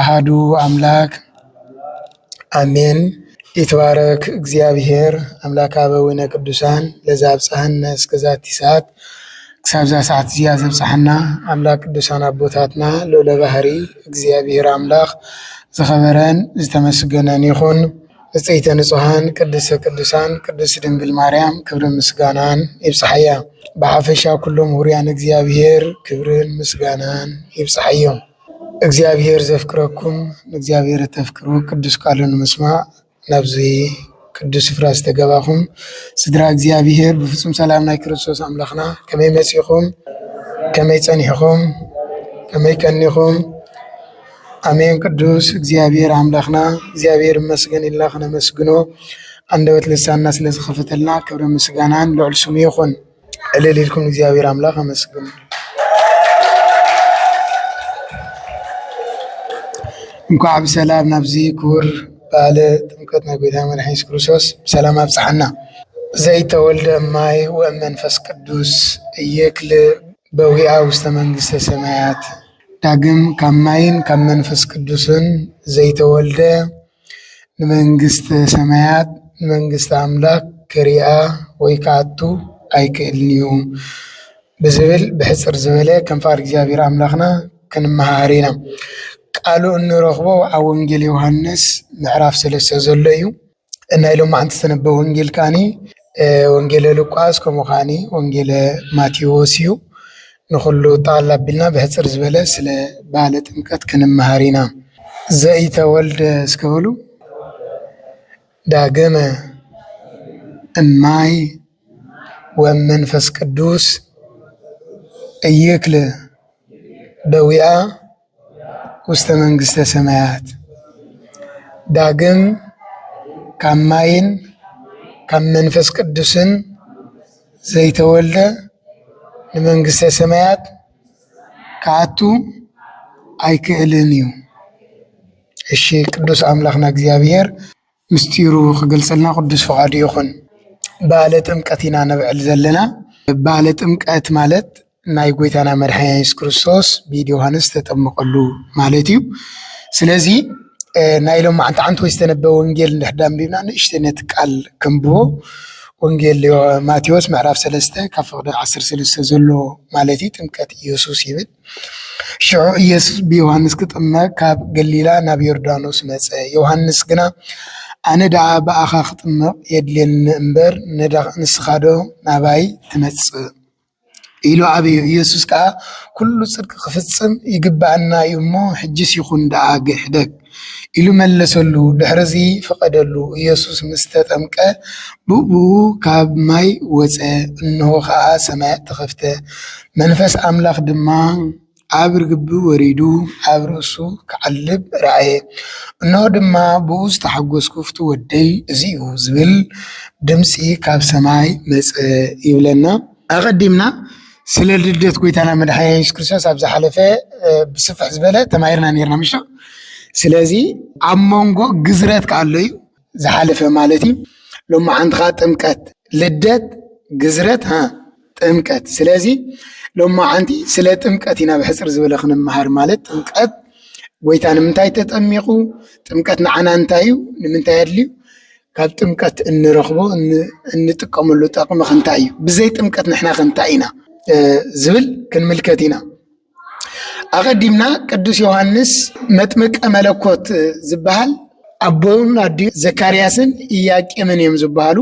ኣሃዱ ኣምላክ ኣሜን ይትባረክ እግዚኣብሔር ኣምላከ ኣበዊነ ቅዱሳን ለዘ ኣብፀሐነ እስከዛቲ ሰዓት ክሳብ እዛ ሰዓት እዚኣ ዘብፀሐና ኣምላክ ቅዱሳን ኣቦታትና ልዑለ ባህሪ እግዚኣብሔር ኣምላክ ዝኸበረን ዝተመስገነን ይኹን። ንፅሕተ ንፁሃን ቅድስተ ቅዱሳን ቅድስት ድንግል ማርያም ክብርን ምስጋናን ይብፅሓያ። ብሓፈሻ ኩሎም ሁሩያን እግዚኣብሔር ክብርን ምስጋናን ይብፅሓዮም። እግዚኣብሔር ዘፍቅረኩም ንእግዚኣብሔር እተፍቅሩ ቅዱስ ቃሉ ንምስማዕ ናብዚ ቅዱስ ስፍራ ዝተገባኹም ስድራ እግዚኣብሔር ብፍፁም ሰላም ናይ ክርስቶስ ኣምላኽና ከመይ መፂኹም? ከመይ ፀኒሕኹም? ከመይ ቀኒኹም? ኣሜን ቅዱስ እግዚኣብሔር ኣምላኽና እግዚኣብሔር ይመስገን ኢልና ክነመስግኖ ኣንደበት ልሳንና ስለ ዝኸፈተልና ክብርን ምስጋናን ልዑል ስሙ ይኹን። እልል ኢልኩም እግዚኣብሔር ኣምላኽ ኣመስግኑ። እንኳዕ ብሰላም ናብዚ ክቡር በዓለ ጥምቀት ናይ ጎይታ መድሓኒ የሱስ ክርስቶስ ብሰላም ኣብፅሓና። ዘይተወልደ እማይ ወእም መንፈስ ቅዱስ እየክል በዊኣ ውስተ መንግስተ ሰማያት ዳግም ካብ ማይን ካብ መንፈስ ቅዱስን ዘይተወልደ ንመንግስተ ሰማያት መንግስቲ ኣምላኽ ክሪኣ ወይ ክኣቱ ኣይክእልን እዩ ብዝብል ብሕጽር ዝበለ ከም ፍቓድ እግዚኣብሔር ኣምላኽና ክንመሃር ኢና። ቃሉ እንረኽቦ ኣብ ወንጌል ዮሓንስ ምዕራፍ ሰለስተ ዘሎ እዩ። ናይ ሎማዓንቲ ዝተነበበ ወንጌል ከኣኒ ወንጌለ ሉቃስ ከምኡ ከዓኒ ወንጌለ ማቴዎስ እዩ። ንኹሉ ጣል ኣቢልና ብሕጽር ዝበለ ስለ በዓለ ጥምቀት ክንመሃር ኢና። ዘኢተወልደ እስከ በሉ ዳግመ እማይ ወመንፈስ ቅዱስ እይክል ደዊኣ ውስተ መንግስተ ሰማያት ዳግም ካብ ማይን ካብ መንፈስ ቅዱስን ዘይተወልደ ንመንግስተ ሰማያት ክኣቱ ኣይክእልን እዩ። እሺ ቅዱስ ኣምላክና እግዚኣብሔር። ምስጢሩ ክገልጸልና ቅዱስ ፍቃዱ ይኹን። በዓለ ጥምቀት ኢና ነብዕል ዘለና። በዓለ ጥምቀት ማለት ናይ ጎይታና መድሓኒና የሱስ ክርስቶስ ብኢድ ዮሃንስ ዝተጠመቐሉ ማለት እዩ። ስለዚ ናይ ሎም መዓንቲ ዓንቲ ወይ ዝተነበበ ወንጌል እንድሕር ዳኣ ኣንቢብና ንእሽተይ ነቲ ቃል ከንብቦ ወንጌል ማቴዎስ ምዕራፍ ሰለስተ ካብ ፍቕዲ ዓሰርተ ሰለስተ ዘሎ ማለት እዩ ጥምቀት የሱስ ይብል። ሽዑ ኢየሱስ ብዮሃንስ ክጥመቅ ካብ ገሊላ ናብ ዮርዳኖስ መጸ። ዮሃንስ ግና ኣነ ደኣ ብኣኻ ክጥመቕ የድልየኒ እምበር፣ ንስኻዶ ናባይ ትመጽእ? ኢሉ ኣበዮ። ኢየሱስ ከኣ ኩሉ ጽድቂ ክፍጽም ይግብኣና እዩ እሞ፣ ሕጂስ ይኹን ደኣ ግሕደግ። ኢሉ መለሰሉ። ድሕርዚ ፈቐደሉ። ኢየሱስ ምስ ተጠምቀ ብእኡ ኻብ ማይ ወጸ፣ እንሆ ኸኣ ሰማያት ተኸፍተ፣ መንፈስ ኣምላኽ ድማ ኣብ ርግቢ ወሪዱ ኣብ ርእሱ ኪዓልብ ረኣየ። እንሆ ድማ ብእኡ ዝተሓጐስኩ ፍቱው ወደይ እዚ እዩ ዚብል ድምጺ ኻብ ሰማይ መጸ ይብለና። ኣቀዲምና ስለ ልደት ጎይታና መድሓኒና የሱስ ክርስቶስ ኣብ ዝሓለፈ ብስፍሕ ዝበለ ተማሂርና ነርና ምሽ ስለዚ ኣብ መንጎ ግዝረት ከ ኣሎ እዩ ዝሓለፈ ማለት እዩ ሎሚ ሓንቲ ከ ጥምቀት ልደት ግዝረት ጥምቀት ስለዚ ሎሚ ሓንቲ ስለ ጥምቀት ኢና ብሕፅር ዝበለ ክንምሃር ማለት ጥምቀት ጎይታ ንምንታይ ተጠሚቁ ጥምቀት ንዓና እንታይ እዩ ንምንታይ ኣድልዩ ካብ ጥምቀት እንረኽቦ እንጥቀመሉ ጠቕሚ ክንታይ እዩ? ብዘይ ጥምቀት ንሕናኸ እንታይ ኢና? ዝብል ክንምልከት ኢና። ኣቐዲምና ቅዱስ ዮሃንስ መጥምቀ መለኮት ዝበሃል ኣቦን ኣዲ ዘካርያስን ኢያቄምን እዮም ዝበሃሉ።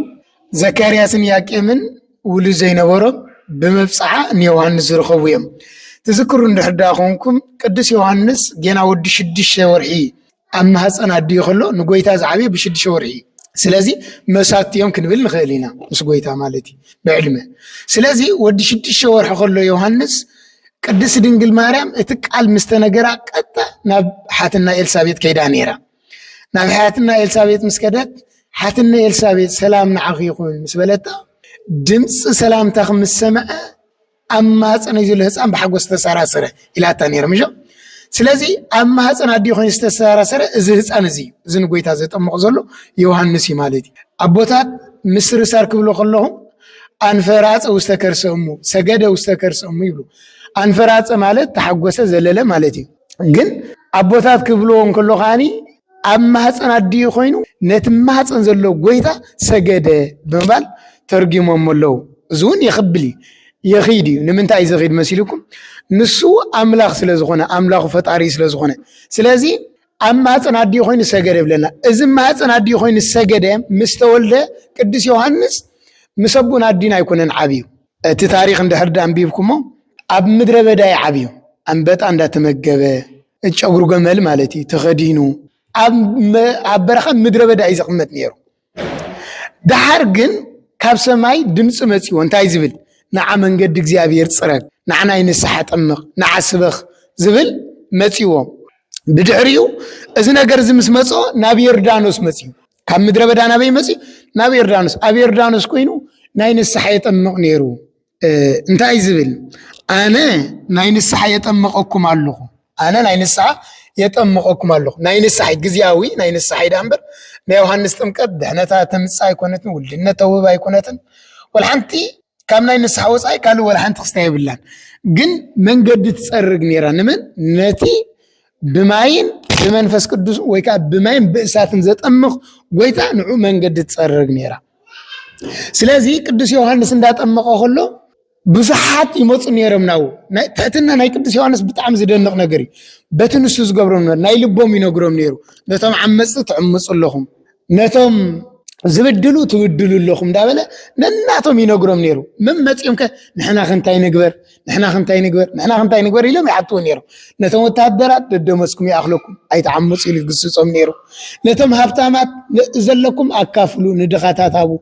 ዘካርያስን ኢያቄምን ውሉድ ዘይነበሮም ብመብፅዓ ንዮሃንስ ዝረኸቡ እዮም። ትዝክሩ እንድሕር ዳ ኮንኩም ቅዱስ ዮሃንስ ጌና ወዲ ሽዱሽተ ወርሒ ኣብ ማህፀን ኣዲኡ ከሎ ንጎይታ ዝዓበየ ብሽድሸ ወርሒ እዩ ስለዚ መሳቲ እዮም ክንብል ንኽእል ኢና ምስ ጎይታ ማለት እዩ ብዕድመ ስለዚ ወዲ ሽድሽተ ወርሒ ከሎ ዮሃንስ ቅድስት ድንግል ማርያም እቲ ቃል ምስ ተነገራ ቀጥታ ናብ ሓትና ኤልሳቤጥ ከይዳ ነይራ ናብ ሓትና ኤልሳቤጥ ምስ ከደት ሓትና ኤልሳቤጥ ሰላም ንዓኺ ይኹን ምስ በለታ ድምፂ ሰላምታ ምስ ሰምዐ ኣብ ማህፀነይ ዘሎ ህፃን ብሓጎስ ዝተሰራሰረ ኢላታ ነይረ ምሾ ስለዚ ኣብ ማህፀን ኣዲኡ ኮይኑ ዝተሰራሰረ እዚ ህፃን እዚ እዩ እዚ ንጎይታ ዘጠምቕ ዘሎ ዮሃንስ እዩ ማለት እዩ ኣቦታት ምስርሳር ክብሉ ከለኹ ኣንፈራፀ ውስተ ከርሰ እሙ ሰገደ ውስተ ከርሰ እሙ ይብሉ ኣንፈራፀ ማለት ተሓጎሰ ዘለለ ማለት እዩ ግን ኣቦታት ክብልዎ እንከሎ ከዓኒ ኣብ ማህፀን ኣዲኡ ኮይኑ ነቲ ማህፀን ዘሎ ጎይታ ሰገደ ብምባል ተርጊሞሞ ኣለዉ። እዚ እውን የኽብል እዩ የኺድ እዩ። ንምንታይ እዩ ዘኺድ መሲልኩም? ንሱ ኣምላኽ ስለ ዝኾነ ኣምላኹ ፈጣሪ ስለ ዝኾነ ስለዚ ኣብ ማህፀን ኣዲኡ ኮይኑ ሰገደ ይብለና። እዚ ማህፀን ኣዲኡ ኮይኑ ሰገደ ምስ ተወልደ ቅዱስ ዮሃንስ ምስ ኣቦን ኣዲን ኣይኮነን ዓብዩ እቲ ታሪኽ እንድሕር ድኣ ኣንቢብኩሞ ኣብ ምድረ በዳ እዩ ዓብዩ ኣንበጣ እንዳተመገበ ጨጉሪ ገመል ማለት እዩ ተኸዲኑ ኣብ በረኻ ምድረ በዳ እዩ ዝቕመጥ ነይሩ። ደሓር ግን ካብ ሰማይ ድምፂ መፂዎ እንታይ ዝብል ንዓ መንገዲ እግዚኣብሔር ፅረግ፣ ንዓ ናይ ንስሓ ጠምቕ፣ ንዓ ስበኽ ዝብል መፂዎ። ብድሕሪኡ እዚ ነገር እዚ ምስ መፅኦ ናብ ዮርዳኖስ መፅዩ። ካብ ምድረ በዳ ናበይ መፂ ናብ ዮርዳኖስ ኣብ ዮርዳኖስ ኮይኑ ናይ ንስሓ የጠምቕ ነይሩ እንታይ ዝብል ኣነ ናይ ንስሓ የጠምቐኩም ኣለኹ ኣነ ናይ ንስሓ የጠምቐኩም ኣለኹ ናይ ንስሓ ግዜያዊ ናይ ንስሓ ዳ እምበር ናይ ዮሃንስ ጥምቀት ድሕነታ ተምፅእ ኣይኮነትን ውልድነት ተውህብ ኣይኮነትን ወልሓንቲ ካብ ናይ ንስሓ ወፃኢ ካልእ ወልሓንቲ ክስታ የብላን ግን መንገዲ ትፀርግ ነይራ ንመን ነቲ ብማይን ብመንፈስ ቅዱስ ወይ ከዓ ብማይን ብእሳትን ዘጠምቕ ጎይታ ንዑ መንገዲ ትፀርግ ነይራ ስለዚ ቅዱስ ዮሃንስ እንዳጠመቐ ከሎ ብዙሓት ይመፁ ነይሮም ናው ትሕትና ናይ ቅዱስ ዮሃንስ ብጣዕሚ ዝደንቕ ነገር እዩ በቲ ንሱ ዝገብሮም ናይ ልቦም ይነግሮም ነይሩ ነቶም ዓመፅቲ ትዕምፁ ኣለኹም ነቶም ዝብድሉ ትብድሉ ኣለኹም እንዳበለ ነናቶም ይነግሮም ነይሩ መመፂኦም ከ ንሕና ክንታይ ንግበር ንሕና ክንታይ ንግበር ንሕና ክንታይ ንግበር ኢሎም ይሓትዎ ነይሩ ነቶም ወተሃደራት ደደመስኩም ይኣኽለኩም ኣይተዓምፁ ኢሉ ይግስፆም ነይሩ ነቶም ሃብታማት ዘለኩም ኣካፍሉ ንድኻታት ሃቡ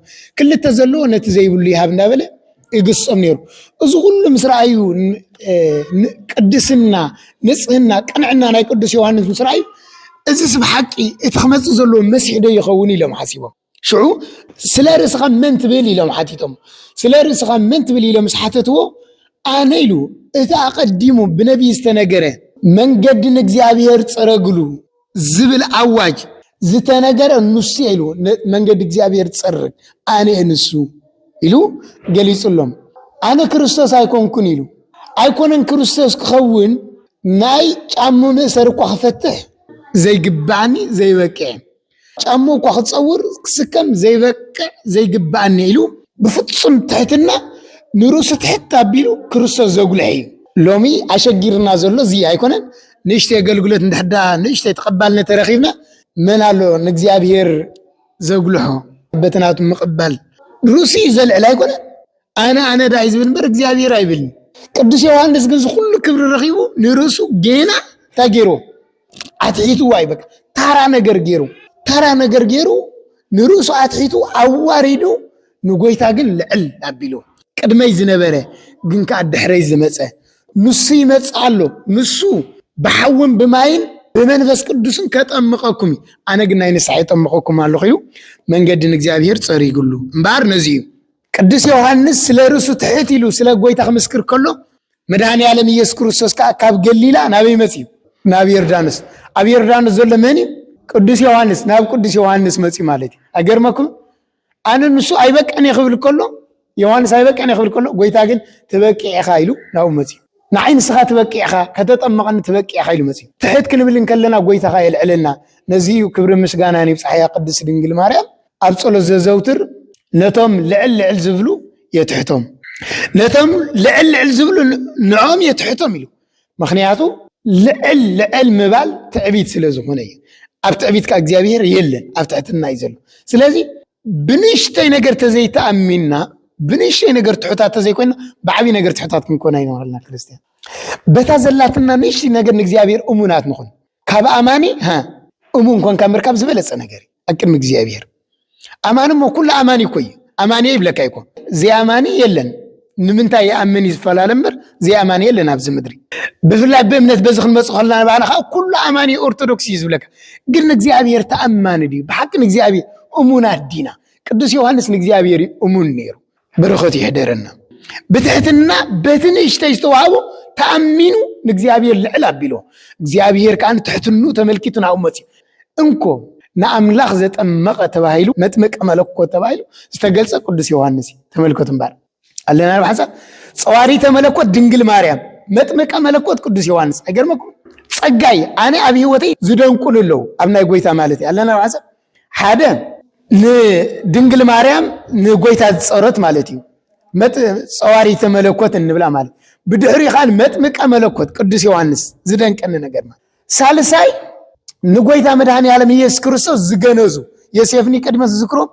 ክልተ ዘለዎ ነቲ ዘይብሉ ይሃብ እንዳበለ ይግሶም ነይሩ። እዚ ኩሉ ምስ ረኣዩ ቅድስና፣ ንጽህና፣ ቅንዕና ናይ ቅዱስ ዮሃንስ ምስ ረኣዩ እዚስ ብሓቂ እቲ ክመፅእ ዘለዎ መሲሕ ዶ ይኸውን ኢሎም ሓሲቦም። ሽዑ ስለ ርእስኻ መን ትብል ኢሎም ሓቲቶም። ስለ ርእስኻ መን ትብል ኢሎም ምስ ሓተትዎ ኣነ ኢሉ እቲ ኣቐዲሙ ብነቢይ ዝተነገረ መንገዲ ንእግዚኣብሔር ፀረግሉ ዝብል ኣዋጅ ዝተነገረ ንሱ እየ ኢልዎ መንገዲ እግዚኣብሔር ዝፀርግ ኣነ እየ ንሱ ኢሉ ገሊፁሎም ኣነ ክርስቶስ ኣይኮንኩን ኢሉ ኣይኮነን ክርስቶስ ክኸውን ናይ ጫሙ ምእሰር እኳ ክፈትሕ ዘይግባኣኒ ዘይበቅዕ ጫሙ እኳ ክፀውር ክስከም ዘይበቅዕ ዘይግባኣኒ ኢሉ ብፍፁም ትሕትና ንርእሱ ትሕት ኣቢሉ ክርስቶስ ዘጉልሐ እዩ ሎሚ ኣሸጊርና ዘሎ እዚ ኣይኮነን ንእሽተይ ኣገልግሎት እንድሕር ደኣ ንእሽተይ ተቐባልነት ተረኺብና መን ኣሎ ንእግዚኣብሄር ዘጉልሖ በትናቱ ምቕባል ርእሱ እዩ ዘልዕል ኣይኮነ ኣነ ኣነ ዳ እዩ ዝብል እምበር እግዚኣብሄር ኣይብልን። ቅዱስ ዮሃንስ ግን ዝኩሉ ክብሪ ረኺቡ ንርእሱ ጌና እንታይ ገይሩ ኣትሒትዋ እዩ በቃ ታራ ነገር ገይሩ ታራ ነገር ገይሩ ንርእሱ ኣትሒቱ ኣዋሪዱ ንጐይታ ግን ልዕል ኣቢሉ ቅድመይ ዝነበረ ግን ከኣ ድሕረይ ዝመጸ ንሱ ይመጽእ ኣሎ፣ ንሱ ብሓውን ብማይን ብመንፈስ ቅዱስን ከጠምቐኩም እዩ፣ ኣነ ግን ናይ ንስሓ የጠምቐኩም ኣለኹ ኢሉ መንገዲ ንእግዚኣብሔር ጸሪግሉ እምበኣር ነዚ እዩ። ቅዱስ ዮሃንስ ስለ ርእሱ ትሕት ኢሉ ስለ ጐይታ ክምስክር ከሎ መድኃኔ ዓለም ኢየሱስ ክርስቶስ ከኣ ካብ ገሊላ ናበይ መጺኡ? ናብ ዮርዳኖስ። ኣብ ዮርዳኖስ ዘሎ መን እዩ? ቅዱስ ዮሃንስ። ናብ ቅዱስ ዮሃንስ መጺኡ ማለት እዩ። ኣይገርመኩም? ኣነ ንሱ ኣይበቅዕን እየ ክብል ከሎ ዮሃንስ ኣይበቅዕን እየ ክብል ከሎ ጎይታ ግን ትበቅዕ ኢኻ ኢሉ ናብኡ መፅዩ ንዓይ ንስኻ ትበቅዕ ኢኻ ከተጠመቐኒ ትበቅዕ ኢኻ ኢሉ መፅዩ ትሕት ክንብል እንከለና ጎይታ ኸ የልዕለና ነዚ እዩ ክብሪ ምስጋናን ይብፃሕያ ቅድስት ድንግል ማርያም ኣብ ጸሎት ዘዘውትር ነቶም ልዕል ልዕል ዝብሉ የትሕቶም ነቶም ልዕል ልዕል ዝብሉ ንዖም የትሕቶም ኢሉ ምክንያቱ ልዕል ልዕል ምባል ትዕቢት ስለ ዝኾነ እዩ ኣብ ትዕቢት ከዓ እግዚኣብሔር የለን ኣብ ትሕትና እዩ ዘሎ ስለዚ ብንእሽተይ ነገር ተዘይተኣሚንና ብንእሽተይ ነገር ትሑታት ተዘይኮይና ብዓብይ ነገር ትሑታት ክንኮን ኣይንክእልና ክርስትያን በታ ዘላትና ንእሽተይ ነገር ንእግዚኣብሔር እሙናት ንኹን ካብ ኣማኒ ሃ እሙን ኮንካ ምርካብ ዝበለፀ ነገር እዩ ኣብ ቅድሚ እግዚኣብሔር ኣማኒ እሞ ኩሉ ኣማኒ እኮ እዩ ኣማኒ ይብለካ ይኮ ዘይኣማኒ የለን ንምንታይ ይኣምን እዩ ዝፈላለ እምበር ዘይኣማኒ የለን ኣብዚ ምድሪ ብፍላይ ብእምነት በዚ ክንመፅ ከለና ንባህላ ከዓ ኩሉ ኣማኒ ኦርቶዶክስ እዩ ዝብለካ ግን ንእግዚኣብሔር ተኣማኒ ድዩ ብሓቂ ንእግዚኣብሔር እሙናት ዲና ቅዱስ ዮሃንስ ንእግዚኣብሔር እዩ እሙን ነይሩ በረከቱ ይሕደረና። ብትሕትና በቲ ንእሽተይ ዝተዋህቦ ተኣሚኑ ንእግዚኣብሔር ልዕል ኣቢሎ እግዚኣብሔር ከዓ ንትሕትኑ ተመልኪቱ ናብኡ መፅኡ እንኮ ንኣምላኽ ዘጠመቐ ተባሂሉ መጥምቀ መለኮት ተባሂሉ ዝተገልፀ ቅዱስ ዮሃንስ እዩ ተመልከቱ እምበር ኣለና ብሓንሳብ ፀዋሪተ መለኮት ድንግል ማርያም መጥምቀ መለኮት ቅዱስ ዮሃንስ ኣይገርመኩም ፀጋይ ኣነ ኣብ ህይወተይ ዝደንቁሉ ኣለዉ ኣብ ናይ ጎይታ ማለት እዩ ኣለና ብሓንሳብ ሓደ ንድንግል ማርያም ንጎይታ ዝፀሮት ማለት እዩ ፀዋሪተ መለኮት እንብላ ማለት ብድሕሪ ካን መጥምቀ መለኮት ቅዱስ ዮሐንስ ዝደንቀኒ ነገር ማለት ሳልሳይ ንጎይታ መድኃኔ ዓለም ኢየሱስ ክርስቶስ ዝገነዙ ዮሴፍኒ ቅድመ ዝዝክሮም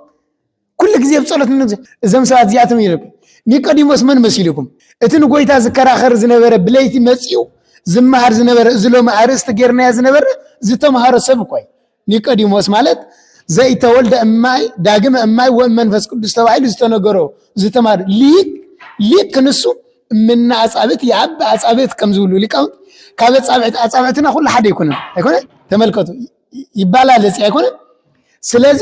ኩሉ ግዜ ብጸሎት ንነብዘ እዞም ሰባት እዚኣቶም ይልኩ ኒቆዲሞስ መን መሲሉኩም እቲ ንጎይታ ዝከራኸር ዝነበረ ብለይቲ መጺኡ ዝመሃር ዝነበረ እዚ ሎሚ ኣርእስቲ ጌርናዮ ዝነበረ ዝተምሃሮ ሰብ እኳ ኒቆዲሞስ ማለት ዘይተወልደ እማይ ዳግመ እማይ ወእም መንፈስ ቅዱስ ተባሂሉ ዝተነገሮ ዝተማር ሊቅ ሊቅ ክንሱ እምና ኣጻብት የኣብ ኣጻብት ከም ዝብሉ ሊቃውንት ካብ ኣጻብዕት ኣጻብዕትና ኩሉ ሓደ ኣይኮነን ኣይኮነ ተመልከቱ ይባላል እዚ ኣይኮነን ስለዚ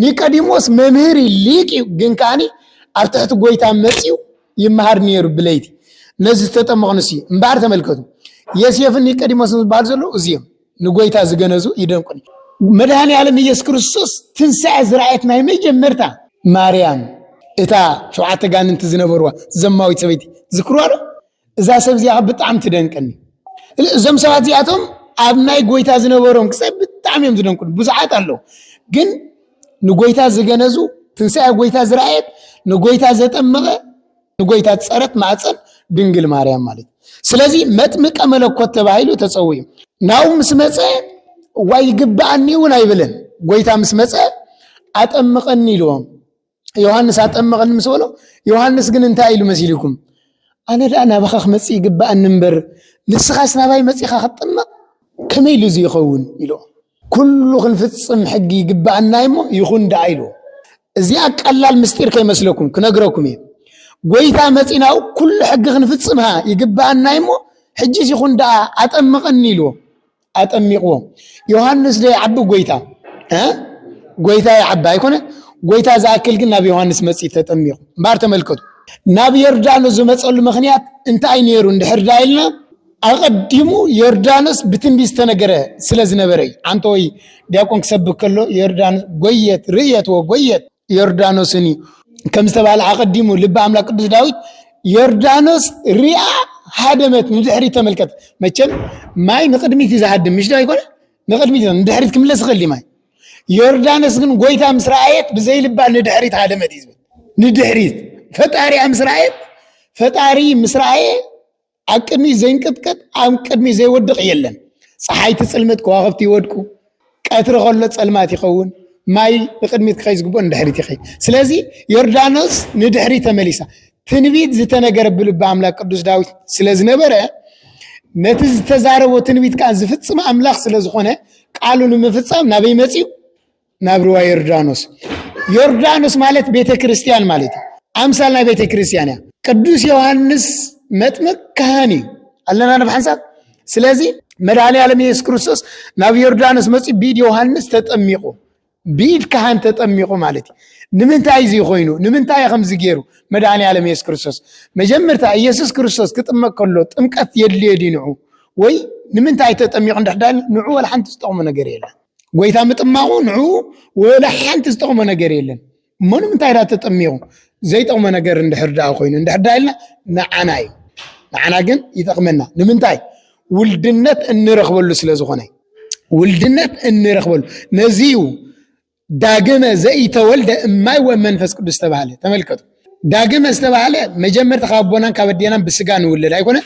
ኒቀዲሞስ መምህር ሊቅ እዩ ግን ከዓኒ ኣብ ትሕቲ ጎይታ መፅዩ ይመሃር ነይሩ ብለይቲ ነዚ ዝተጠመቕ ንሱ እዩ እምበኣር ተመልከቱ የሴፍን ኒቀዲሞስን ዝበሃሉ ዘለዉ እዚኦም ንጎይታ ዝገነዙ ይደንቁኒ መድሃኒ ዓለም ኢየሱስ ክርስቶስ ትንሣኤ ዝረኣየት ናይ መጀመርታ ማርያም እታ ሸውዓተ ጋንንቲ ዝነበርዋ ዘማዊት ሰበይቲ ዝክርዋ ዶ እዛ ሰብ እዚኣ ብጣዕሚ ትደንቀኒ እዞም ሰባት እዚኣቶም ኣብ ናይ ጎይታ ዝነበሮም ክሳብ ብጣዕሚ እዮም ዝደንቁን ብዙሓት ኣለዉ ግን ንጎይታ ዝገነዙ ትንሳኤ ጎይታ ዝረኣየት ንጎይታ ዘጠመቐ ንጎይታ ፀረት ማዕፀን ድንግል ማርያም ማለት ስለዚ መጥምቀ መለኮት ተባሂሉ ተፀው እዩ ናው ምስ መፀ ዋይ ይግብኣኒ እውን ኣይብልን ጎይታ ምስ መፀ ኣጠምቐኒ ኢልዎም ዮሃንስ ኣጠመቐኒ ምስ በሎ ዮሃንስ ግን እንታይ ኢሉ መሲልኩም ኣነ ደኣ ናባኻ ክመፅእ ይግባኣኒ እምበር ንስኻስ ናባይ መፂኻ ክትጥመቕ ከመይ ኢሉ እዚ ይኸውን ኢሎ ኩሉ ክንፍፅም ሕጊ ይግባኣና እሞ ይኹን ደኣ ኢሉ እዚኣ ቀላል ምስጢር ከይመስለኩም ክነግረኩም እየ ጎይታ መፂናኡ ኩሉ ሕጊ ክንፍፅምሃ ይግባኣና እሞ ሕጂስ ይኹን ደኣ ኣጠምቐኒ ኢልዎ ኣጠሚቕዎ ዮሃንስ ዶ ይዓቢ ጎይታ ጎይታ ይዓቢ ኣይኮነ ጎይታ ዝኣክል ግን ናብ ዮሃንስ መፂ ተጠሚቑ እምበር ተመልከቱ ናብ ዮርዳኖስ ዝመፀሉ ምክንያት እንታይ ነይሩ እንድሕር ዳ ኢልና ኣቐዲሙ ዮርዳኖስ ብትንቢት ዝተነገረ ስለ ዝነበረ እዩ ኣንተ ወይ ዲያቆን ክሰብክ ከሎ ዮርዳኖስ ጎየት ርእየትዎ ጎየት ዮርዳኖስን እዩ ከም ዝተባህለ ኣቐዲሙ ልቢ ኣምላክ ቅዱስ ዳዊት ዮርዳኖስ ሪኣ ሃደመት ንድሕሪት ተመልከት መቸም ማይ ንቅድሚት እዩ ዝሃድም ምሽ ኣይኮነ ንቅድሚት ንድሕሪት ክምለስ ይኽእል ማይ ዮርዳኖስ ግን ጎይታ ምስ ረኣየት ብዘይ ልባ ንድሕሪት ሃደመት እዩ ዝብል ንድሕሪት ፈጣሪኣ ምስ ረኣየት ፈጣሪ ምስ ረኣየ ኣብ ቅድሚት ዘይንቅጥቀጥ ኣብ ቅድሚት ዘይወድቕ የለን ፀሓይ ትፅልምት ከዋኽብቲ ይወድቁ ቀትሪ ከሎ ፀልማት ይኸውን ማይ ንቅድሚት ክኸይ ዝግብኦ ንድሕሪት ይኸይ ስለዚ ዮርዳኖስ ንድሕሪ ተመሊሳ ትንቢት ዝተነገረ ብልቢ ኣምላክ ቅዱስ ዳዊት ስለ ዝነበረ ነቲ ዝተዛረቦ ትንቢት ከዓ ዝፍፅም ኣምላክ ስለ ዝኾነ ቃሉ ንምፍፃም ናበይ መፅኡ ናብ ርዋ ዮርዳኖስ ዮርዳኖስ ማለት ቤተ ክርስቲያን ማለት እዩ ኣምሳል ናይ ቤተ ክርስቲያን እያ ቅዱስ ዮሃንስ መጥምቅ ካህን እዩ ኣለና ናብ ሓንሳብ ስለዚ መድሃኒ ዓለም የሱስ ክርስቶስ ናብ ዮርዳኖስ መፅ ቢድ ዮሃንስ ተጠሚቑ ቢድ ካህን ተጠሚቑ ማለት እዩ ንምንታይ እዚ ኮይኑ ንምንታይ ከምዚ ገይሩ መድሃኒ ዓለም የሱስ ክርስቶስ መጀመርታ ኢየሱስ ክርስቶስ ክጥመቅ ከሎ ጥምቀት የድልዮ ዲንዑ ወይ ንምንታይ ተጠሚቑ ንድሕዳ ንዑ ወላ ሓንቲ ዝጠቕሙ ነገር የለን ጎይታ ምጥማቑ ንዕኡ ወላ ሓንቲ ዝጠቕሞ ነገር የለን እሞ ንምንታይ ዳ ተጠሚቑ ዘይጠቕሞ ነገር እንድሕር ደኣ ኮይኑ እንድሕር ደኣ ኢልና ንዓና እዩ ንዓና ግን ይጠቕመና ንምንታይ ውልድነት እንረኽበሉ ስለ ዝኾነ ውልድነት እንረኽበሉ ነዚ እዩ ዳግመ ዘኢተወልደ እማይ ወመንፈስ ቅዱስ ተባሃለ ተመልከቱ ዳግመ ዝተባህለ መጀመርታ ካብ ኣቦናን ካብ ኣዴናን ብስጋ ንውለድ ኣይኮነ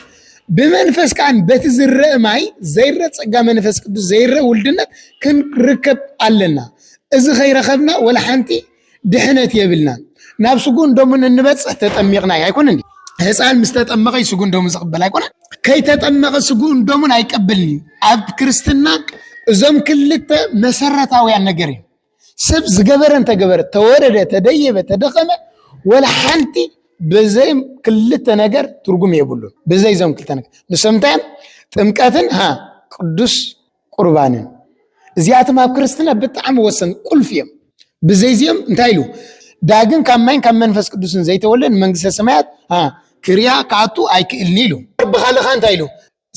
ብመንፈስ ከዓ በቲ ዝረእ ማይ ዘይረ ፀጋ መንፈስ ቅዱስ ዘይረ ውልድነት ክንርከብ ኣለና እዚ ከይረከብና ወላ ሓንቲ ድሕነት የብልናን ናብ ስጉን ደሙን እንበፅሕ ተጠሚቕና እዩ ኣይኮነ ህፃን ምስ ተጠመቐ እዩ ስጉን ደሙን ዝቕበል ኣይኮነ ከይተጠመቐ ስጉን ደሙን ኣይቀበልን እዩ ኣብ ክርስትና እዞም ክልተ መሰረታውያን ነገር እዩ ሰብ ዝገበረ እንተገበረ ተወረደ ተደየበ ተደኸመ ወላ ሓንቲ ብዘይ ክልተ ነገር ትርጉም የብሉን ብዘይ ዞም ክልተ ነገር ንሶም እንታይ እዮም ጥምቀትን ሃ ቅዱስ ቁርባንን እዚኣቶም ኣብ ክርስትና ብጣዕሚ ወሰን ቁልፍ እዮም ብዘይ እዚኦም እንታይ ኢሉ ዳግም ካብ ማይን ካብ መንፈስ ቅዱስን ዘይተወለን መንግስተ ሰማያት ክርያ ክኣቱ ኣይክእልኒ ኢሉ ብካልኻ እንታይ ኢሉ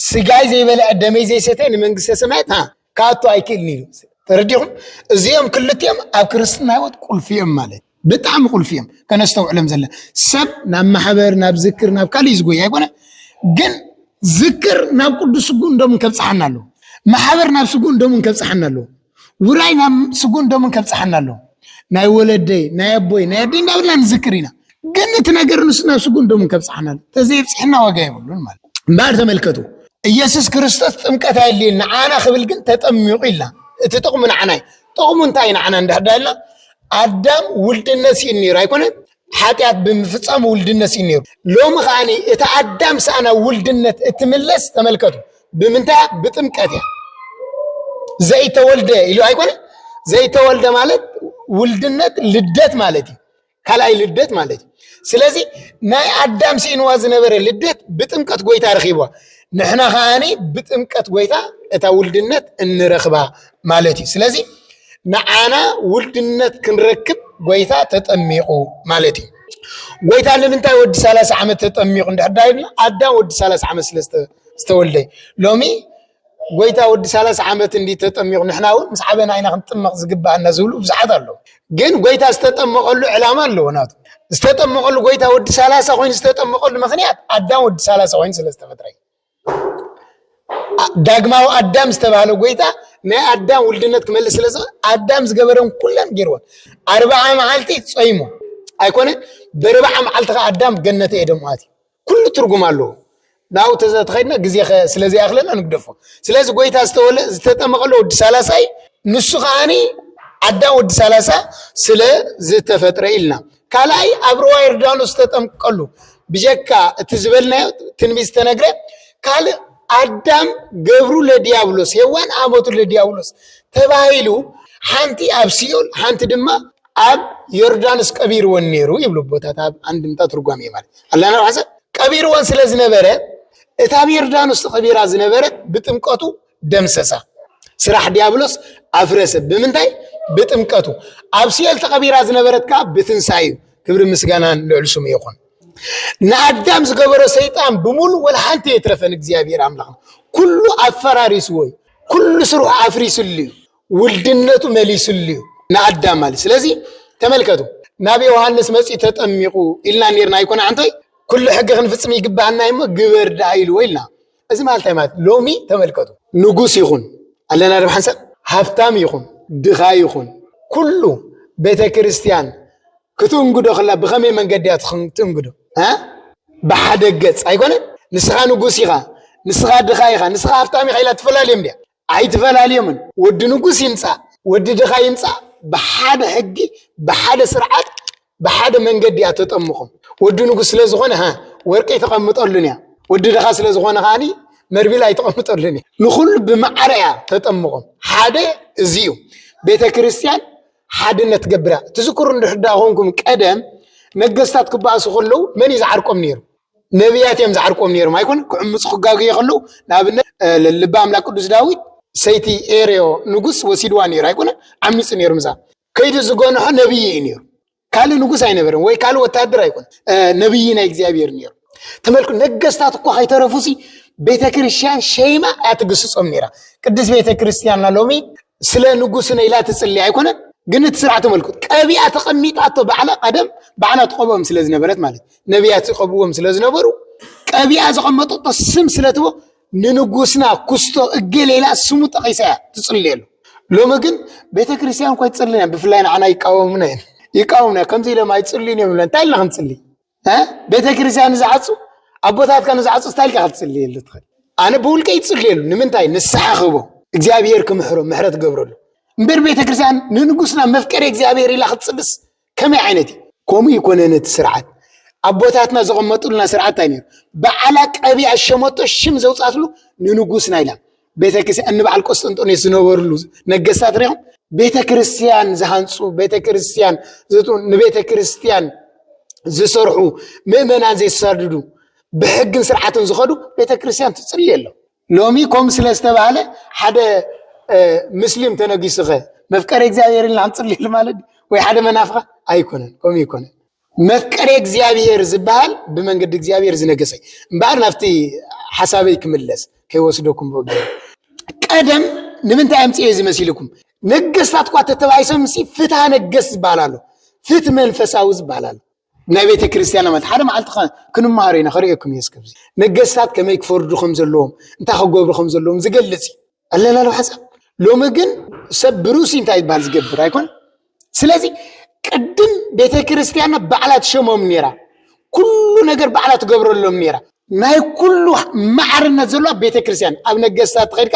ስጋይ ዘይበልዐ ደመይ ዘይሰተ ንመንግስተ ሰማያት ሃ ክኣቱ ኣይክእልን እዩ ተረዲኹም እዚኦም ክልቲኦም ኣብ ክርስትና ህይወት ቁልፊ እዮም ማለት ብጣዕሚ ቁልፊ እዮም ከነስተውዕሎም ዘለ ሰብ ናብ ማሕበር ናብ ዝክር ናብ ካልእ ዝጎይ ኣይኮነ ግን ዝክር ናብ ቅዱስ ስጉእን ደሙን ከብፅሓና ኣለዎ ማሕበር ናብ ስጉእን ደሙን ከብፅሓና ኣለዎ ውራይ ናብ ስጉን ደሙን ከብፅሓና ኣሎ ናይ ወለደይ ናይ ኣቦይ ናይ ኣደይ እንዳበልና ንዝክር ኢና ግን እቲ ነገር ንሱ ናብ ስጉን ደሙን ከብፅሓና ኣሎ ተዘይብፅሕና ዋጋ የብሉን ማለት እምበኣር ተመልከቱ ኢየሱስ ክርስቶስ ጥምቀት ኣየድልየን ንዓና ክብል ግን ተጠሚቑ ኢልና እቲ ጥቕሙ ንዓና እዩ ጥቕሙ እንታይ ንዓና እንዳዳ ኢልና ኣዳም ውልድነት ስኢን ነይሩ ኣይኮነን ሓጢኣት ብምፍጻም ውልድነት ስኢኑ ነይሩ። ሎሚ ከኣ እታ ኣዳም ስኣና ውልድነት እትምለስ ተመልከቱ። ብምንታይ እያ? ብጥምቀት እያ። ዘይተወልደ ኢሉ ኣይኮነ ዘይተወልደ ማለት ውልድነት ልደት ማለት እዩ ካልኣይ ልደት ማለት እዩ ስለዚ ናይ ኣዳም ስኢንዋ ዝነበረ ልደት ብጥምቀት ጎይታ ረኪብዋ ንሕና ከዓኒ ብጥምቀት ጎይታ እታ ውልድነት እንረክባ ማለት እዩ። ስለዚ ንዓና ውልድነት ክንረክብ ጎይታ ተጠሚቑ ማለት እዩ። ጎይታ ንምንታይ ወዲ ሰላሳ ዓመት ተጠሚቑ እንድሕር ዳ ኢልና ኣዳም ወዲ ሰላሳ ዓመት ስለ ዝተወልደ እዩ። ሎሚ ጎይታ ወዲ ሰላሳ ዓመት እንዲ ተጠሚቑ ንሕና እውን ምስ ዓበና ኢና ክንጥመቕ ዝግባኣና ዝብሉ ብዙሓት ኣለዉ። ግን ጎይታ ዝተጠመቐሉ ዕላማ ኣለዎ ናቱ ዝተጠመቐሉ ጎይታ ወዲ ሰላሳ ኮይኑ ዝተጠመቐሉ ምክንያት ኣዳም ወዲ ሰላሳ ኮይኑ ስለ ዝተፈጥረ እዩ። ዳግማዊ ኣዳም ዝተባህለ ጎይታ ናይ ኣዳም ውልድነት ክመልስ ስለ ዝኽእል ኣዳም ዝገበረን ኩለን ገይርዎን ኣርብዓ መዓልቲ ጸይሙ ኣይኮነ በርብዓ መዓልቲ ከዓ ኣዳም ገነተ ኤደም ኣትዩ ኩሉ ትርጉም ኣለዎ ናብኡ ተዘተኸድና ግዜ ስለ ዘይኣኽለና ንግደፎ ስለዚ ጎይታ ዝተወለ ዝተጠመቐሎ ወዲ ሰላሳ እዩ ንሱ ከዓኒ ኣዳም ወዲ ሰላሳ ስለ ዝተፈጥረ ኢልና ካልኣይ ኣብ ሩባ ዮርዳኖስ ተጠምቀሉ ብጀካ እቲ ዝበልናዮ ትንቢት ዝተነግረ ካልእ ኣዳም ገብሩ ለዲያብሎስ ሄዋን ኣመቱ ለዲያብሎስ ተባሂሉ ሓንቲ ኣብ ሲኦል ሓንቲ ድማ ኣብ ዮርዳኖስ ቀቢርወን ነይሩ ይብሉ ቦታት ኣብ ኣንድምታ ትርጓም እየ ማለት ኣላና ሓሰብ ቀቢርወን ስለ ዝነበረ እታ ኣብ ዮርዳኖስ ተቐቢራ ዝነበረት ብጥምቀቱ ደምሰሳ ስራሕ ዲያብሎስ ኣፍረሰ ብምንታይ ብጥምቀቱ ኣብ ሲኦል ተቐቢራ ዝነበረት ከዓ ብትንሳኤ እዩ ክብሪ ምስጋናን ልዕሊ ስሙ ይኹን ንኣዳም ዝገበሮ ሰይጣን ብምሉእ ወላ ሓንቲ የትረፈን እግዚኣብሔር ኣምላኽና ኩሉ ኣፈራሪስዎ እዩ ኩሉ ስርሑ ኣፍሪስሉ እዩ ውልድነቱ መሊስሉ እዩ ንኣዳም ማለት ስለዚ ተመልከቱ ናብ ዮሃንስ መፅኡ ተጠሚቑ ኢልና ነርና ኣይኮነ ኣንታይ ኩሉ ሕጊ ክንፍፅም ይግባህና እሞ ግበር ደኣ ኢልዎ ኢልና እዚ ማለት እንታይ ማለት ሎሚ ተመልከቱ ንጉስ ይኹን ኣለና ዶ ሓንሳብ ሃብታም ይኹን ድኻ ይኹን ኩሉ ቤተ ክርስቲያን ክትእንግዶ ከላ ብኸመይ መንገዲ እያ ትእንግዶ ብሓደ ገፅ ኣይኮነን ንስኻ ንጉስ ኢኻ ንስኻ ድኻ ኢኻ ንስኻ ሃብታም ኢኻ ኢላ ትፈላልዮም ድያ ኣይትፈላልዮምን ወዲ ንጉስ ይምፃእ ወዲ ድኻ ይምፃእ ብሓደ ሕጊ ብሓደ ስርዓት ብሓደ መንገዲ እያ ተጠምቖም ወዲ ንጉስ ስለ ዝኾነ ሃ ወርቂ ኣይተቐምጠሉን እያ ወዲ ድኻ ስለ ዝኾነ ከዓኒ መርቢል ኣይተቐምጠሉን እያ ንኹሉ ብማዕረ እያ ተጠምቖም ሓደ እዚ እዩ ቤተ ክርስቲያን ሓድነት ገብራ ትዝክሩ እንድሕዳ ኮንኩም ቀደም ነገስታት ክበኣሱ ከለዉ መን እዩ ዝዓርቆም ነይሩ ነቢያት እዮም ዝዓርቆም ነይሮም ኣይኮነ ክዕምፁ ክጋግየ ከለዉ ንኣብነት ልቢ ኣምላክ ቅዱስ ዳዊት ሰይቲ ኤርዮ ንጉስ ወሲድዋ ነይሩ ኣይኮነ ዓሚፁ ነይሩ ምዛ ከይዱ ዝገንሖ ነብይ እዩ ነይሩ ካልእ ንጉስ ኣይነበረን ወይ ካልእ ወታደር ኣይኮነ ነብይ ናይ እግዚኣብሔር ነይሩ ተመልኩ ነገስታት እኳ ከይተረፉሲ ቤተ ክርስቲያን ሸይማ እያ ትግስፆም ነይራ ቅድስ ቤተ ክርስቲያንና ሎሚ ስለ ንጉስነ ኢላ ትፅልይ ኣይኮነን ግን እቲ ስርዓት ተመልኩት ቀቢኣ ተቐሚጣቶ ባዕላ ቀደም ባዕላ ትቆብኦም ስለ ዝነበረት ማለት እዩ ነቢያት ዝቀብዎም ስለ ዝነበሩ ቀቢኣ ዘቐመጠቶ ስም ስለ ትቦ ንንጉስና ኩስቶ እገሌላ ስሙ ጠቂሳ እያ ትፅልየሉ ሎሚ ግን ቤተ ክርስቲያን እኳ ይፅልን እያ ብፍላይ ንዓና ይቃወሙና እዮም ይቃወሙና ከምዚ ኢሎም ኣይፅልዩን እዮም እንታይ ኢልና ክንፅሊ ቤተ ክርስቲያን ንዝዓፁ ኣቦታትካ ንዝዓፁ እንታይ ኢልካ ክትፅልየሉ ትኽእል ኣነ ብውልቀ ይፅልየሉ ንምንታይ ንስሓ ክህቦ እግዚኣብሄር ክምሕሮ ምሕረት ገብረሉ እምበር ቤተ ክርስቲያን ንንጉስና መፍቀሪ እግዚኣብሄር ኢላ ክትፅልስ ከመይ ዓይነት እዩ ከምኡ ይኮነን እቲ ስርዓት ኣቦታትና ዘቐመጡልና ስርዓት እንታይ ነይሩ በዓላ ቀቢኣ ሸመቶ ሽም ዘውፃትሉ ንንጉስ ናይ ኢላ ቤተክርስትያን እንበዓል ቆስጠንጦኔስ ዝነበርሉ ነገስታት ሪኦም ቤተ ክርስትያን ዝሃንፁ ቤተ ክርስትያን ንቤተ ክርስትያን ዝሰርሑ ምእመናን ዘይሳድዱ ብሕግን ስርዓትን ዝኸዱ ቤተ ክርስትያን ትፅልየ ኣሎ ሎሚ ኮም ስለ ዝተባህለ ሓደ ምስሊም ተነጊሱኸ መፍቀሬ እግዚኣብሔር ኢልና ክንፅልየሉ ማለት ወይ ሓደ መናፍቃ ኣይኮነን ከምኡ ይኮነን መፍቀሬ እግዚኣብሔር ዝበሃል ብመንገዲ እግዚኣብሔር ዝነገሰ እምበኣር ናብቲ ሓሳበይ ክምለስ ከይወስደኩም ብእግ ቀደም ንምንታይ ኣምፅኤ እዚ መሲልኩም ነገስታት እኳ ተተባሂሶም ሲ ፍትሃ ነገስ ዝበሃል ኣሎ ፍት መንፈሳዊ ዝበሃል ኣሎ ናይ ቤተ ክርስቲያን ኣመት ሓደ መዓልቲ ክንመሃሮ ኢና ክርእየኩም እየ እስከ ነገስታት ከመይ ክፈርዱ ከም ዘለዎም እንታይ ክገብሩ ከም ዘለዎም ዝገልጽ እዩ ኣለና ዶ ሓሳብ ሎሚ ግን ሰብ ብርእሱ እንታይ ይበሃል ዝገብር ኣይኮን ስለዚ ቅድም ቤተ ክርስቲያንና ባዕላ ትሸሞም ነይራ ኩሉ ነገር ባዕላ ትገብረሎም ነይራ ናይ ኩሉ ማዕርነት ዘሎ ኣብ ቤተ ክርስቲያን ኣብ ነገስታት ተኸድካ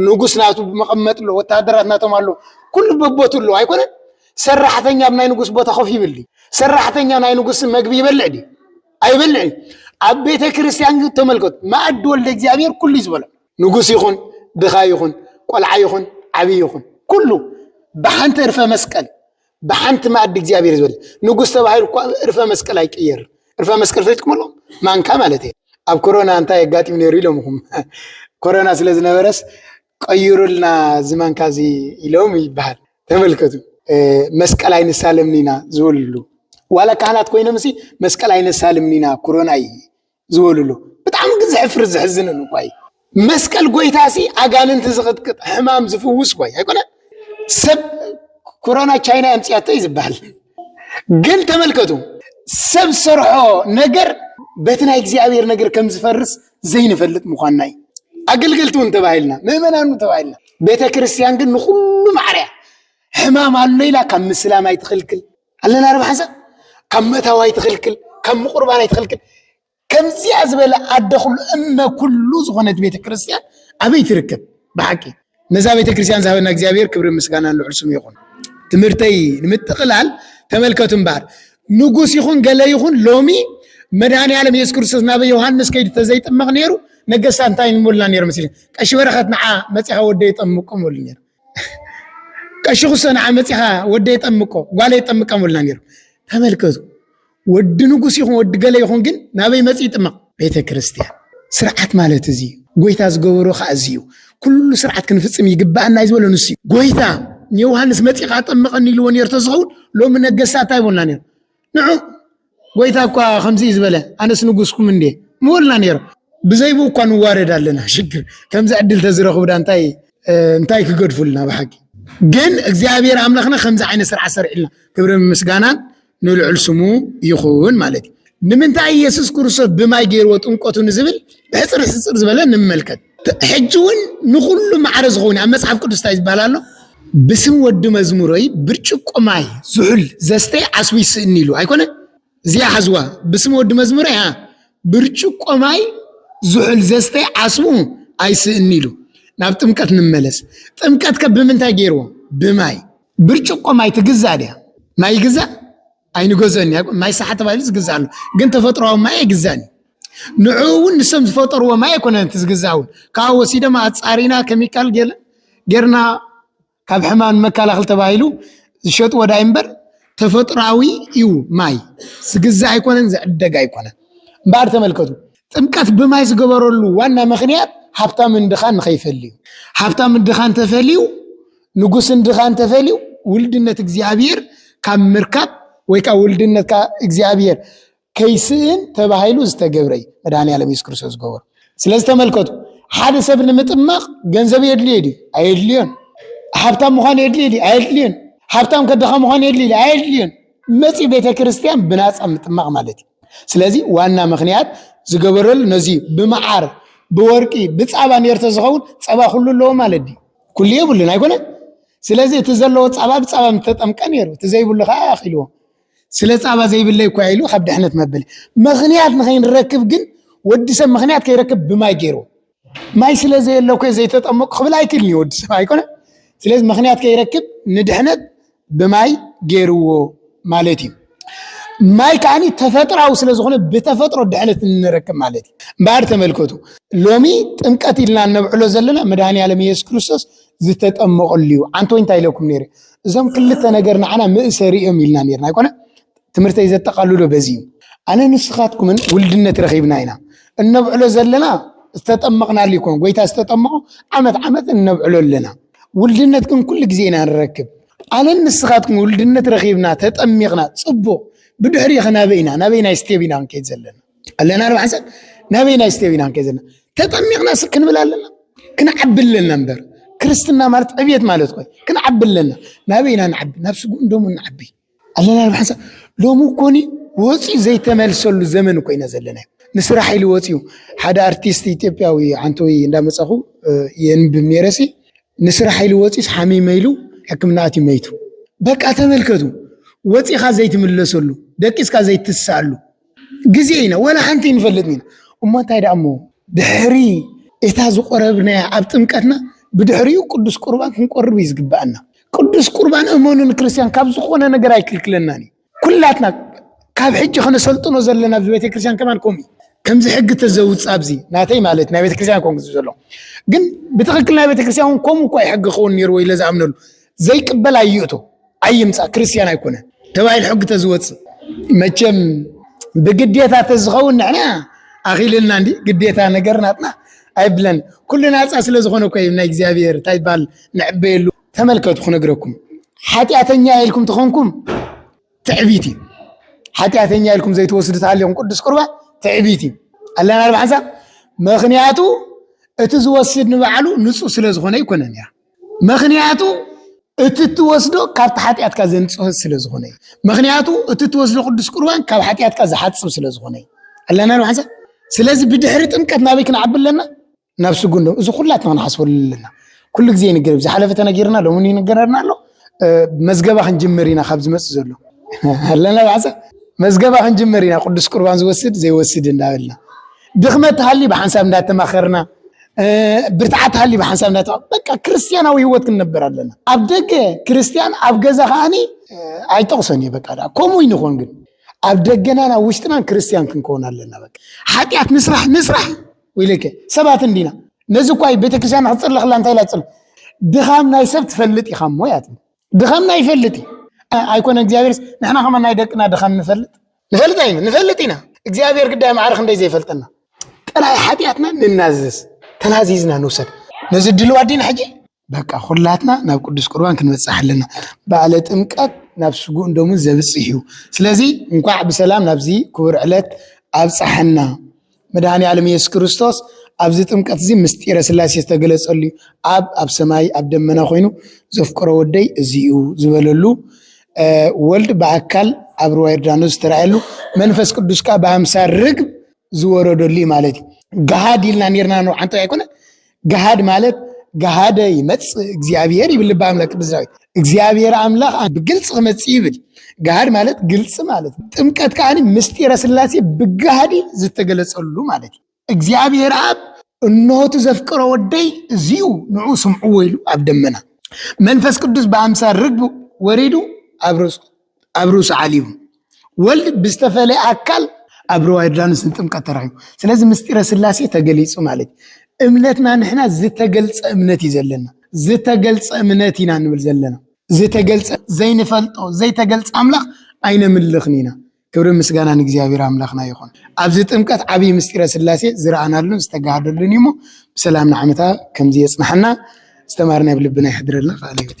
ንጉስ ናቱ መቐመጥ ኣሎ፣ ወታሃደራት ናቶም ኣሎ፣ ኩሉ በቦቱ ኣሎ ኣይኮነን። ሰራሕተኛ ኣብ ናይ ንጉስ ቦታ ኮፍ ይብል ድዩ? ሰራሕተኛ ናይ ንጉስ መግቢ ይበልዕ ድዩ? ኣይበልዕን። ኣብ ቤተ ክርስቲያን ግን ተመልከቱ፣ ማእድ ወልደ እግዚኣብሔር ኩሉ ዝበሎ ንጉስ ይኹን ድኻ ይኹን ቆልዓ ይኹን ዓብይ ይኹን ኩሉ ብሓንቲ እርፈ መስቀል ብሓንቲ መኣዲ እግዚኣብሔር ዝበል ንጉስ ተባሂሉ እኳ እርፈ መስቀል ኣይቅየር እርፈ መስቀል ፈትኩም ኣሎ ማንካ ማለት እየ ኣብ ኮሮና እንታይ ኣጋጢሙ ነይሩ ኢሎምኹም ኮሮና ስለ ዝነበረስ ቀይሩልና እዚ ማንካ እዚ ኢሎም ይበሃል ተመልከቱ መስቀል ኣይንሳለምኒና ዝብልሉ ዋላ ካህናት ኮይኖም ሲ መስቀል ኣይነሳልምኒና ኩሮና እዩ ዝበሉሉ ብጣዕሚ ግን ዘሕፍር ዘሕዝንን እኳ እዩ። መስቀል ጎይታሲ ኣጋንንቲ ዝቕጥቅጥ ሕማም ዝፍውስ እኳ ኣይኮነን። ሰብ ኮሮና ቻይና ኣምፅያቶ እዩ ዝበሃል ግን ተመልከቱ ሰብ ሰርሖ ነገር በቲ ናይ እግዚኣብሔር ነገር ከም ዝፈርስ ዘይንፈልጥ ምኳንና እዩ። ኣገልገልቲ እውን ተባሂልና ምእመናን ተባሂልና ቤተ ክርስቲያን ግን ንኩሉ ማዕርያ ሕማም ኣሎ ኢላ ካብ ምስላም ኣይትኽልክል ኣለና ዶ ሓንሳብ ካብ መታው ኣይትኽልክል ካብ ምቁርባን ኣይትኽልክል ከምዚኣ ዝበለ ኣደ ኩሉ እመ ኩሉ ዝኾነት ቤተ ክርስቲያን ኣበይ ትርከብ ብሓቂ ነዛ ቤተ ክርስቲያን ዝሃበና እግዚኣብሔር ክብሪ ምስጋና ልዑል ስሙ ይኹን ትምህርተይ ንምጥቕላል ተመልከቱ እምበኣር ንጉስ ይኹን ገለ ይኹን ሎሚ መድሃኒ ዓለም የሱስ ክርስቶስ ናብ ዮሃንስ ከይዱ ተዘይጥመቕ ነይሩ ነገስታት እንታይ ንብሉና ነይሩ መሲሉ ቀሺ በረኸት ንዓ መፂኻ ወደ ይጠምቁም ይብሉ ነይሩ ቀሺ ኩሶ ንዓ መፂኻ ወደይ ጠምቆ ጓለይ ጠምቃ ምብልና ነይሩ። ተመልከቱ ወዲ ንጉስ ይኹን ወዲ ገለ ይኹን ግን ናበይ መፂ ይጥመቕ? ቤተ ክርስቲያን። ስርዓት ማለት እዚ ጎይታ ዝገበሮ ከዓ እዚ እዩ። ኩሉ ስርዓት ክንፍፅም ይግባኣና እዩ ዝበሎ ንሱ እዩ። ጎይታ ንዮሃንስ መፂኻ ጠምቐኒ ኢልዎ ነርቶ ዝኸውን ሎሚ ነገስታት እንታይ ይብሉና ነይሩ? ንዑ ጎይታ እኳ ከምዚ እዩ ዝበለ ኣነስ ንጉስኩም እንዴ ምበልና ነይሩ ብዘይብኡ እኳ ንዋረድ ኣለና ሽግር ከምዚ ዕድል ተዝረኽቡ ዳ እንታይ እንታይ ክገድፉልና ብሓቂ ግን እግዚኣብሔር ኣምላኽና ከምዚ ዓይነት ስርዓት ሰርዕልና ክብሪ ምስጋናን ንልዑል ስሙ ይኹን ማለት እዩ። ንምንታይ ኢየሱስ ክርስቶስ ብማይ ገይርዎ ጥምቀቱ ንዝብል ብሕፅር ሕፅር ዝበለ ንመልከት። ሕጂ እውን ንኹሉ ማዕረ ዝኸውን ኣብ መጽሓፍ ቅዱስ እንታይ ዝበሃል ኣሎ ብስም ወዲ መዝሙረይ ብርጭቆ ማይ ዝሑል ዘስተይ ዓስቡ ይስእኒ ኢሉ ኣይኮነ እዚኣ ሓዝዋ ብስም ወዲ መዝሙረይ ብርጭቆ ማይ ዝሑል ዘስተይ ዓስቡ ኣይስእኒ ኢሉ ናብ ጥምቀት ንመለስ ጥምቀት ከ ብምንታይ ገይርዎ ብማይ ብርጭቆ ማይ ትግዛእ ድያ ማይ ይግዛእ ኣይንገዝኦን ኢና ይብሉ። ማይ ሳሓ ተባሂሉ ዝግዛእ ኣሎ፣ ግን ተፈጥሮኣዊ ማይ ኣይግዛእን እዩ። ንዕኡ እውን ንሶም ዝፈጠርዎ ማይ ኣይኮነን እቲ ዝግዛእ እውን ካብኡ ወሲዶም ኣፃሪና ከሚካል ገለ- ጌርና ካብ ሕማም ንመከላኸል ተባሂሉ ዝሸጥዎ ዳይ እምበር ተፈጥሮኣዊ እዩ ማይ ዝግዛእ ኣይኮነን ዝዕደግ ኣይኮነን። እምበኣር ተመልከቱ ጥምቀት ብማይ ዝገበረሉ ዋና ምክንያት ሃብታምን ድኻን ንኸይፈሊ እዩ። ሃብታምን ድኻን ተፈልዩ ንጉስን ድኻን ተፈልዩ ውልድነት እግዚኣብሔር ካብ ምርካብ ወይ ከዓ ውልድነት እግዚኣብሔር ከይስእን ተባሂሉ ዝተገብረ እዩ መድሃኒ ዓለም የሱስ ክርስቶስ ዝገበሩ ስለዚ ተመልከቱ ሓደ ሰብ ንምጥማቕ ገንዘብ የድልዮ ድዩ ኣየድልዮን ሃብታም ምዃን የድልዮ ድዩ ኣየድልዮን ሃብታም ከድኻ ምዃን የድልዮ ድዩ ኣየድልዮን መፂ ቤተ ክርስቲያን ብናፃ ምጥማቕ ማለት እዩ ስለዚ ዋና ምክንያት ዝገበረሉ ነዚ ብመዓር ብወርቂ ብፃባ ነርተ ዝኸውን ፀባ ኩሉ ኣለዎ ማለት ድዩ ኩሉ የብሉን ኣይኮነን ስለዚ እቲ ዘለዎ ፃባ ብፃባ ምተጠምቀ ነይሩ እቲ ዘይብሉ ከዓ ኣኪልዎ ስለ ፃባ ዘይብለይ እኳ ኢሉ ካብ ድሕነት መበል ምክንያት ንከይንረክብ ግን ወዲ ሰብ ምክንያት ከይረክብ ብማይ ገይሩ ማይ ስለ ዘየለ ኮ ዘይተጠመቁ ክብል ኣይክልን እዩ ወዲ ሰብ ኣይኮነ ስለዚ ምክንያት ከይረክብ ንድሕነት ብማይ ገይርዎ ማለት እዩ ማይ ከዓ ተፈጥራዊ ስለዝኾነ ብተፈጥሮ ድሕነት እንረክብ ማለት እዩ እምበኣር ተመልከቱ ሎሚ ጥምቀት ኢልና እነብዕሎ ዘለና መድሃኒ ዓለም የሱስ ክርስቶስ ዝተጠመቐሉ እዩ ዓንተ እንታይ ኢለኩም ነይረ እዞም ክልተ ነገር ንዓና ምእሰሪ እዮም ኢልና ነርና ኣይኮነ ትምህርተይ ዘጠቓልሎ በዚ እዩ። ኣነ ንስኻትኩምን ውልድነት ረኺብና ኢና። እነብዕሎ ዘለና ዝተጠመቕናሉ ይኮን ጎይታ ዝተጠመቑ ዓመት ዓመት እነብዕሎ ኣለና። ውልድነት ግን ኩሉ ግዜ ኢና ንረክብ። ኣነን ንስኻትኩም ውልድነት ረኺብና ተጠሚቕና ፅቡቕ ብድሕሪ ኸናበይ ኢና ናበይ ናይ ስቴብ ኢና ክንከይድ ዘለና ኣለና ንባሓንሰብ ናበይ ናይ ስቴብ ኢና ክንከይድ ዘለና ተጠሚቕና ስ ክንብል ኣለና ክንዓቢ ኣለና እምበር ክርስትና ማለት ዕብየት ማለት ኮይ ክንዓቢ ኣለና ናበይ ኢና ንዓቢ ናብ ስጉእን ደሙ ንዓቢ ኣለና ብሓንሳብ ሎሚ ኮኒ ወፂኡ ዘይተመልሰሉ ዘመን ኮይነ ዘለና ንስራሕ ኢሉ ወፂኡ ሓደ ኣርቲስት ኢትዮጵያዊ ዓንተዊ እንዳመፀኹ የንብብ ነይረሲ ንስራሕ ኢሉ ወፂስ ሓሚመ ኢሉ ሕክምና ኣትዩ መይቱ በቃ ተመልከቱ ወፂኻ ዘይትምለሰሉ ደቂስካ ዘይትስኣሉ ግዜ ኢና ወላ ሓንቲ ይንፈልጥን ኢና እሞ እንታይ ደኣ እሞ ድሕሪ እታ ዝቆረብናያ ኣብ ጥምቀትና ብድሕሪኡ ቅዱስ ቁርባን ክንቆርብ እዩ ዝግበኣና ቅዱስ ቁርባን እመኑ ንክርስትያን ካብ ዝኾነ ነገር ኣይክልክለናን እዩ ኩላትና ካብ ሕጂ ከነሰልጥኖ ዘለና ኣብዚ ቤተክርስትያን ከማን ከምኡ እዩ ከምዚ ሕጊ ተዘውፅ ኣብዚ ናተይ ማለት ናይ ቤተክርስትያን ኮን ዘሎ ግን ብትክክል ናይ ቤተክርስትያን እውን ከምኡ እኳ እዩ ሕጊ ክኸውን ነይርዎ ኢለ ዝኣምነሉ ዘይቅበል ኣይእቶ ኣይምፃእ ክርስትያን ኣይኮነን ተባሂሉ ሕጊ ተዝወፅእ መቸም ብግዴታ ተዝኸውን ንሕና ኣኺልልና እንዲ ግዴታ ነገር ናትና ኣይብለን ኩሉ ናፃ ስለ ዝኾነ እኮ ናይ እግዚኣብሔር እንታይ ይባል ንዕበየሉ ተመልከቱ ክነግረኩም ሓጢኣተኛ ኢልኩም ተኾንኩም ትዕቢት እዩ ሓጢኣተኛ ኢልኩም ዘይትወስዱ ተሃሊኹም ቅዱስ ቁርባ ትዕቢት እዩ ኣለና ኣርባሓንሳ ምክንያቱ እቲ ዝወስድ ንባዕሉ ንፁህ ስለ ዝኾነ ይኮነን እያ መክንያቱ እቲ እትወስዶ ካብቲ ሓጢኣትካ ዘንጽሆ ስለ ዝኾነ እዩ መክንያቱ እቲ እትወስዶ ቅዱስ ቁርባን ካብ ሓጢኣትካ ዝሓጽብ ስለ ዝኾነ እዩ ኣለና ንሓንሳ ስለዚ ብድሕሪ ጥምቀት ናበይ ክንዓቢ ኣለና ናብ ስጉን ዶ እዚ ኩላትና ክንሓስበሉ ኣለና ኩሉ ግዜ ይንገር ዝሓለፈ ተነጊርና ሎሚ ይንገረና ኣሎ መዝገባ ክንጅምር ኢና ካብ ዝመፅእ ዘሎ ኣለና ብሓንሳ መዝገባ ክንጅምር ኢና ቅዱስ ቁርባን ዝወስድ ዘይወስድ እንዳበልና ድኽመት ሃሊ ብሓንሳብ እንዳተማኸርና ብርትዓት ሃሊ ብሓንሳብ ናይታ በቃ ክርስትያናዊ ህይወት ክንነብር ኣለና ኣብ ደገ ክርስትያን ኣብ ገዛ ከዓኒ ኣይጠቕሶን እየ በቃ ከምኡ ይንኾን ግን ኣብ ደገናን ኣብ ውሽጥናን ክርስትያን ክንከውን ኣለና በቃ ሓጢኣት ንስራሕ ንስራሕ ወይለከ ሰባት እንዲና ነዚ እኳ ቤተክርስትያን ክፅርልኽላ እንታይ ኢላ ፅር ድኻም ናይ ሰብ ትፈልጥ ኢኻ እሞ እያ ትብል ድኻምና ይፈልጥ እዩ ኣይኮነ እግዚኣብሔርስ ንሕና ከማ ናይ ደቅና ድኻም ንፈልጥ ንፈልጥ ኣይነ ንፈልጥ ኢና እግዚኣብሔር ግዳይ ማዕረ ክንደይ ዘይፈልጠና ጥራይ ሓጢኣትና ንናዘዝ ተናዚዝና ንውሰድ ነዚ ድልዋ ዲና ሕጂ በቃ ኩላትና ናብ ቅዱስ ቁርባን ክንበፅሕ ኣለና በዓለ ጥምቀት ናብ ስጉእ እንደምን ዘብፅሕ እዩ ስለዚ እንኳዕ ብሰላም ናብዚ ክቡር ዕለት ኣብፀሐና መድኃኔ ዓለም ኢየሱስ ክርስቶስ ኣብዚ ጥምቀት እዚ ምስጢረ ሥላሴ ዝተገለጸሉ እዩ። ኣብ ኣብ ሰማይ ኣብ ደመና ኮይኑ ዘፍቅሮ ወደይ እዚ እዩ ዝበለሉ ወልድ ብኣካል ኣብ ርዋ ዮርዳኖስ ዝተረኣየሉ መንፈስ ቅዱስ ከዓ ብኣምሳል ርግብ ዝወረደሉ ማለት እዩ። ገሃድ ኢልና ነርና ንዓንቶ ኣይኮነ ገሃድ ማለት ገሃደ ይመፅእ እግዚኣብሔር ይብል ልበ ኣምላክ ቅዱስ ዳዊት እግዚኣብሔር ኣምላክ ብግልፂ ክመፅእ ይብል ገሃድ ማለት ግልፂ ማለት ጥምቀት ከዓ ምስጢረ ስላሴ ብገሃድ ዝተገለፀሉ ማለት እዩ እግዚኣብሔር ኣብ እነሆቱ ዘፍቅሮ ወደይ እዚዩ ንዑ ስምዑ ወይሉ ኣብ ደመና መንፈስ ቅዱስ ብኣምሳል ርግብ ወሪዱ ኣብ ርእሱ ኣብ ርእሱ ዓልዩ ወልድ ብዝተፈለየ ኣካል ኣብ ርባ ዮርዳኖስ ንጥምቀት ተራኺቡ ስለዚ ምስጢረ ስላሴ ተገሊጹ ማለት እምነትና ንሕና ዝተገልጸ እምነት እዩ ዘለና ዝተገልጸ እምነት ኢና ንብል ዘለና ዝተገልጸ ዘይንፈልጦ ዘይተገልጸ ኣምላኽ ኣይነምልኽን ኢና ክብሪ ምስጋና ንእግዚኣብሔር ኣምላኽና ይኹን ኣብዚ ጥምቀት ዓብዪ ምስጢረ ስላሴ ዝረኣናሉን ዝተጋሃደሉን እዩ እሞ ብሰላም ንዓመታ ከምዚ የጽናሓና ዝተማርና ኣብ ልብና ይሕድረልና ቃል ህይወት